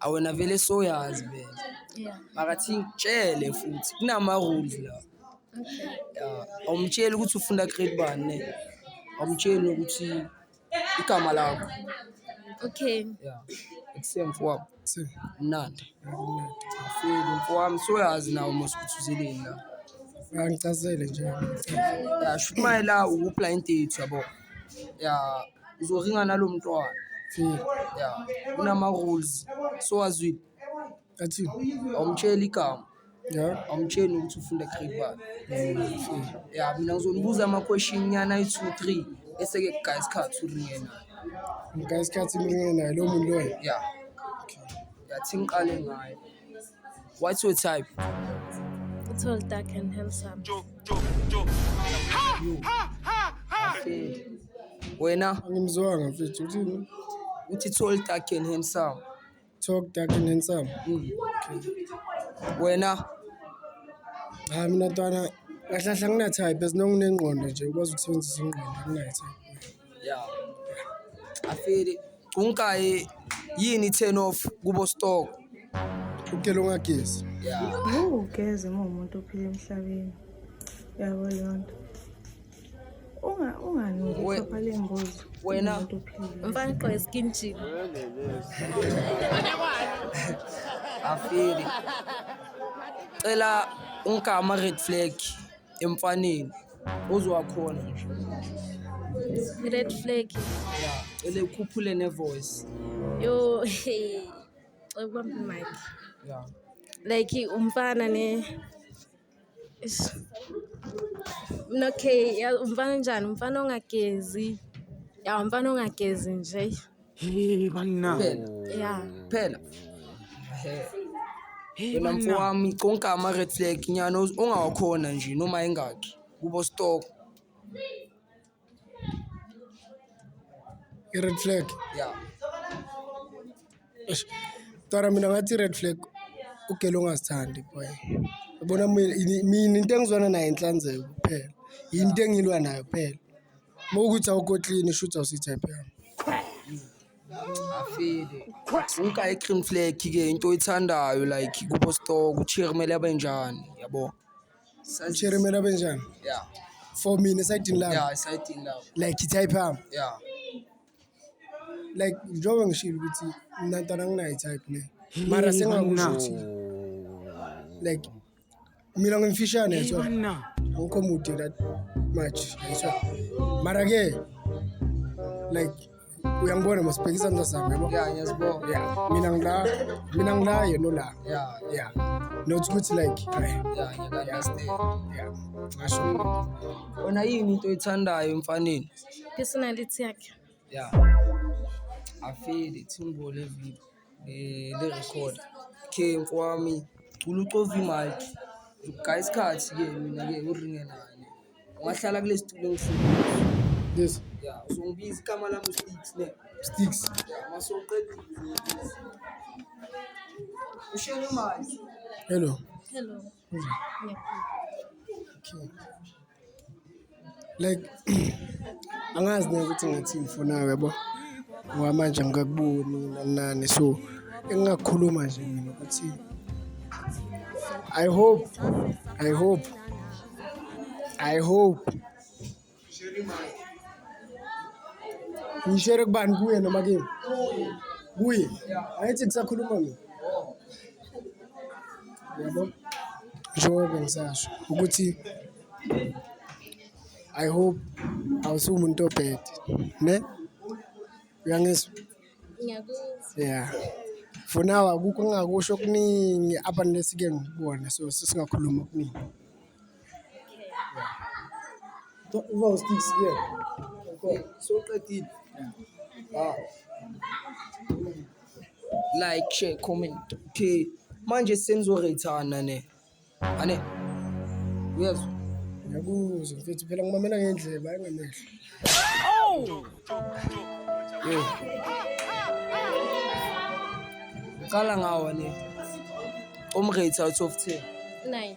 Awu wena vele soyazi vele. Yeah. Makathi ngitshele futhi kunama rules la. Okay. Yeah. Awumtsheli ukuthi ufunda grade bani ne. Awumtsheli ukuthi igama lakho. Okay. Yeah. Ekuseni mfowabo. Sir, Mnandi. akumnandi. Afeli mfowami soyazi nawo mos ukuthi uzeleni la. Angicazele nje. Yeah, shoot my la ukupla intetho yabo. Yeah, uzoringa nalo mntwana ya kunama-rules sowazwile athini awumtsheli igama ya awumtsheli nokuthi ufunda grade bani ya mina ngizonibuza ama-question nyana ayi-two three eseke kugaya isikhathi uringe nayo ngika isikhathi imringe naye lowo muntu loyo ya yathi ngiqale ngayo What's your type? Tall, dark and handsome. Wena Angimzwanga mfethu uthini? uthi tall, dark and handsome. Talk dark and handsome. Wena Hayi mina ntwana kahle kahle angina type as long unengqondo nje ukwazi ukusebenzisa ingqondo anginayo type. Yeah. I feel it. Unkaye yini turn off kubo stock. Ukela ungagezi. Yeah. Ugeze uma umuntu ophila emhlabeni. Yabo lonto. Unga ungani ukupha lembuzi. Wena umuntu ophila. Mfana qo skin chip. I feel it. Cela ungama red flag. emfaneni ozowakhona nje red flag ya cele ukhuphule ne voice yo ukubamba mic ya like umfana ne mina okay umfana njani umfana ongagezi ya umfana ongagezi nje Hey, banna. Phela. Yeah. Phela. Hey. Hey, Wena banna. mfowami konke ama-red flag nyana uz- ongawakhona nje noma engakhi kubo stock I-red flag. ya Eish. Tara mina ngathi i-red flag ugele ongazithandi boy. Yabona mina ini- mina into engizwana nayo inhlanzeko kuphela. Yinto engilwa nayo kuphela. Uma ukuthi awukotlini shuthi awusi-type yami. Afile. Uka i-cream flag ke into oyithandayo like kubo store kuchiri kumele abe njani yabo. Sazi- Shere mina benjani? Yeah. For mina esayidini lami. Yeah, exciting love. Like i-type yami. Yeah. Like njengoba ngishilo ukuthi mina ntwana nginayo i-type ne. Mara sengakusho ukuthi like mina ngimfishane yethu awukho mude that much yethu mara ke like uyangibona masibhekisa mntasami yabo ya ngiyazibona ya mina ngila mina ngila yena la ya ya not ukuthi like ngasho wena yini into oyithandayo emfaneni personality yakhe ya afeli thimbo levipi eh, le record ke nkwami cula ucova imic ugaye isikhathi ke mina ke uringe nani ungahlala kule situlo engifuna Yes. ya uzongibiza igama lami usticks ne Sticks. masoqedile ushele imali Hello. Hello. Okay. Like angazi neke ukuthi ngathi ngifuna yabo ngoba manje ngikakuboni nanani so engingakhuluma nje mina ukuthi I hope I hope I hope Ngishere kubani kuye noma kimi? Kuye. Ayithi kusakhuluma mina. Yabo. Njengoba ngisasho ukuthi I hope awusumuntu obhede ne uyangizwa ngiyakuzwa yeah for now akukho ngakusho okuningi abanesike ngikubona so sesingakhuluma okuningi Uba usticks ke. Soqedile. Ah. Like, share, comment. Okay. Manje senizorethana ne. Ane. Uyezwa? Ngiyakuzwa mfethu phela ngimamela ngendleba engamehlo. Oh! Yo. Qala ngawo ne. Umrate out of 10. Nine.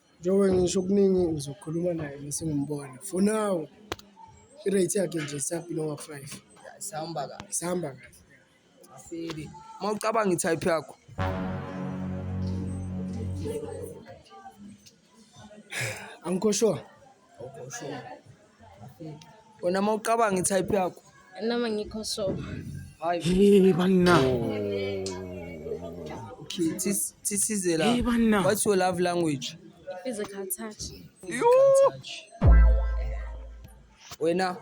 Njengoba ngisho okuningi uzokhuluma naye mese ngimbona for now i-rate yakhe nje isabhile onga-five Sihamba kahle. isihamba kahle Asili. Uma ucabanga i-type yakho. angikho sure wena uma ucabanga itype yakho noma ngikho so hey banna thisize la what's your love language physical touch wena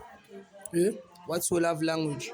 eh? what's your love language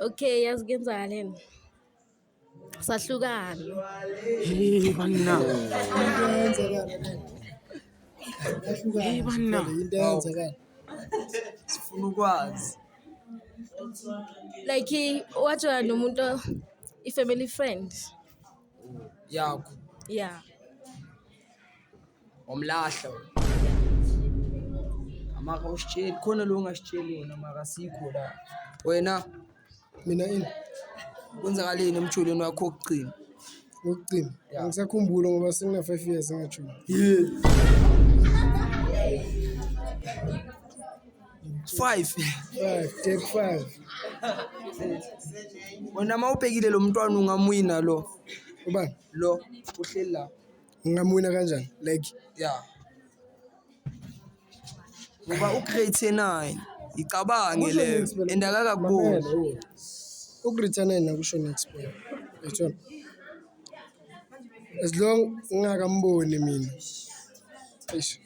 Okay, yazi kuyenzakaleni? Sahlukana. Hey banna. Hey banna. Into eyenzekala. Sifuna ukwazi. Like wajola nomuntu i-family friend. yakho ya wamlahla amaka usitsheli khona lo ungasitsheli wona maka sikho la wena mina ini kwenzakaleni emjolweni wakho wokugcina wokugcina Ya. angisakhumbula ngoba sengina-five years engajoli Five. Five, take five. Wena uma ubhekile lo mntwana ungamwina lo. Ubani? Lo uhleli la. Ngingamwina kanjani? Like Yeah. Ngoba ugrade 9 icabange Kusho leyo next phela. and akakakuboni. Mamela, oh. Ugrade nine nakusho next boy. Yachona. As long ngingakamboni mina. Eish.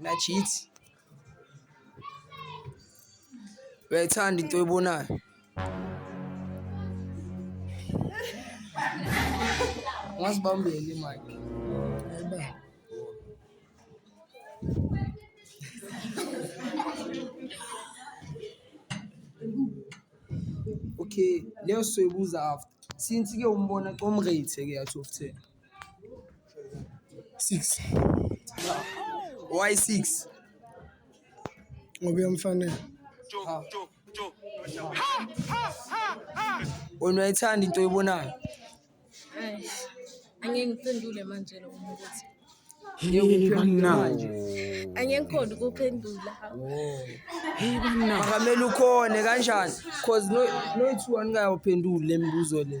Nachithi. Uyayithanda into oyibonayo. Ungasibambeli manje. Ayibambe. okay leyo soyibuza after since ke umbona comrate ke yathi of ten Six. Why six? Ngoba uyamfanele. Wena uyayithanda into oyibonayo. Ai. Angeke ngiphendule manje lo muntu. Hey banna. Angeke ngikhona ukuphendula. Hey banna. Akamele ukhone kanjani? Cause no no two aningayophenduli lemibuzo le.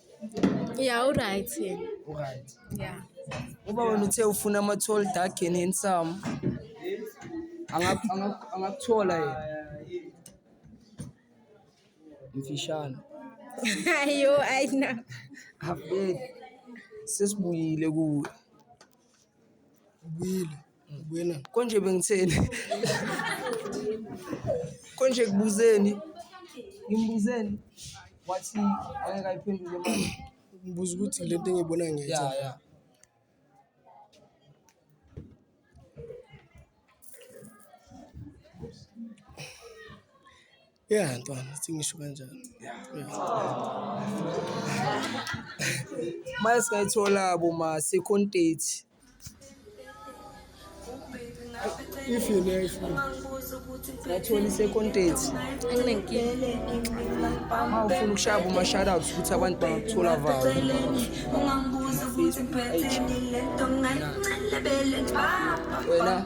Yeah, uRight. Uryt. Yeah. Uba wena uthe ufuna ama-tall dark and handsome. Anga- anga- Angakuthola yena. Mfishane. Ayo, ay na. Abed. Sesibuyile kuwe. Ubuyile. Ngibuyela. Konje bengitheni? Konje kubuzeni? Ngimbuzeni? Wathi angeke ayiphendule manje. Ngibuza ukuthi le nto engiyibona Ya ngiyayithanda. ya. Ya ntwana singisho kanjalo. Mase singayithola bo ma second date. If you know if you ngathola i-second date uma ufuna ukushaya bo ma-shoutouts ukuthi abantu bangakuthola valo wena